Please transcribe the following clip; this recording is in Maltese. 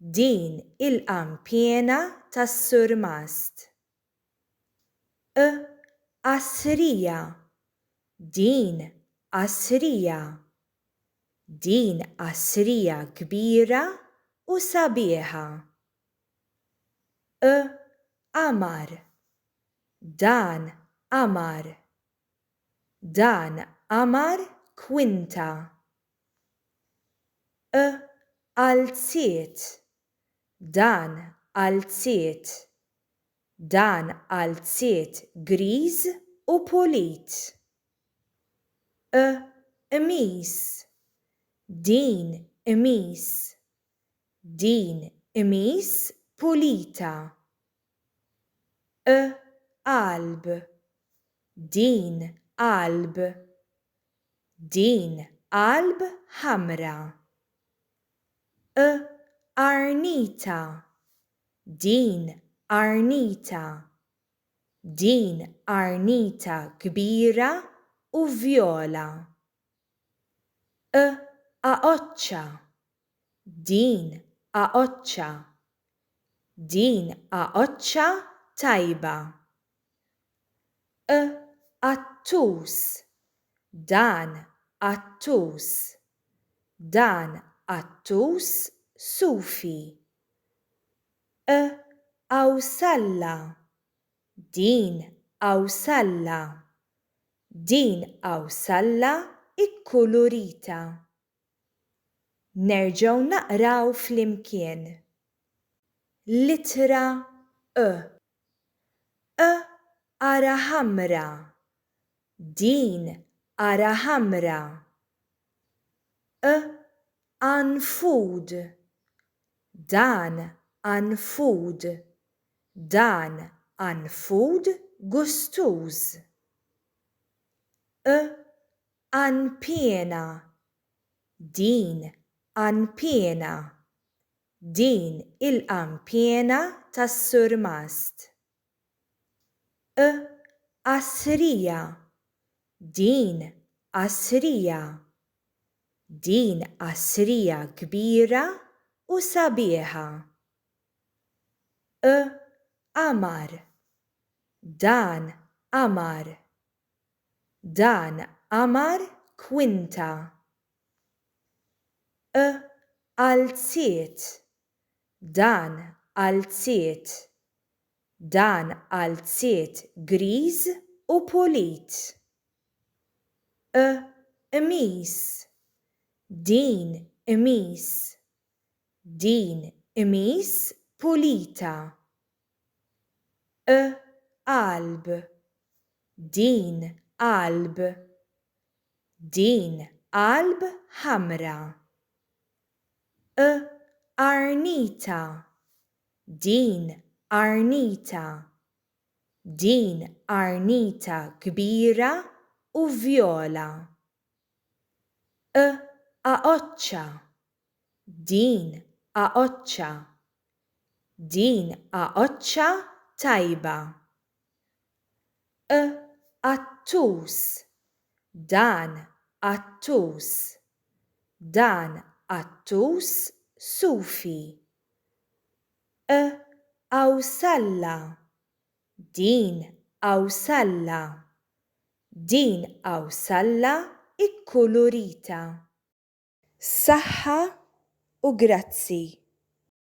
Din il-qanpiena tas-surmast. Q Qasrija Din qasrija. Din qasrija kbira u sabiħa. Q Qamar Dan qamar. Dan qamar kwinta. E Alziet Dan alziet Dan alziet griż u pulit. E Qmis Din qmis Din qmis pulita. e qalb din qalb din qalb ħamra e qarnita din qarnita din qarnita kbira u vjola e aqoċċa Din għaqodxa. Din għaqodxa tajba. Q-qattus. Dan qattus. Dan qattus sufi. Q-qawsalla. Din qawsalla. Din qawsalla kkulurita. Nerġgħu naqraw flimkien. L-ittra ë. Ë ara ħamra. Din ara ħamra. Ë anfud. Dan anfud. Dan anfud gustuż. Ë Għan piena. Din għan piena. Din il-għan piena tas-surmast. Q. Qasrija. Din qasrija. Din qasrija kbira u sabiħa. Q. Qamar. Dan qamar. Dan għamar kwinta. Ë qalziet. Dan qalziet. Dan qalziet griż u pulit. Ë qmis. Din qmis. Din qmis pulita. e qalb din qalb din qalb ħamra e qarnita din qarnita din qarnita kbira u vjola e aqoċċa Din għaoċċa. Din għaoċċa tajba. Q-qattus. Dan qattus. Dan qattus sufi. Q-qawsalla. Din qawsalla. Din qawsalla kkulurita. Saħħa u grazzi.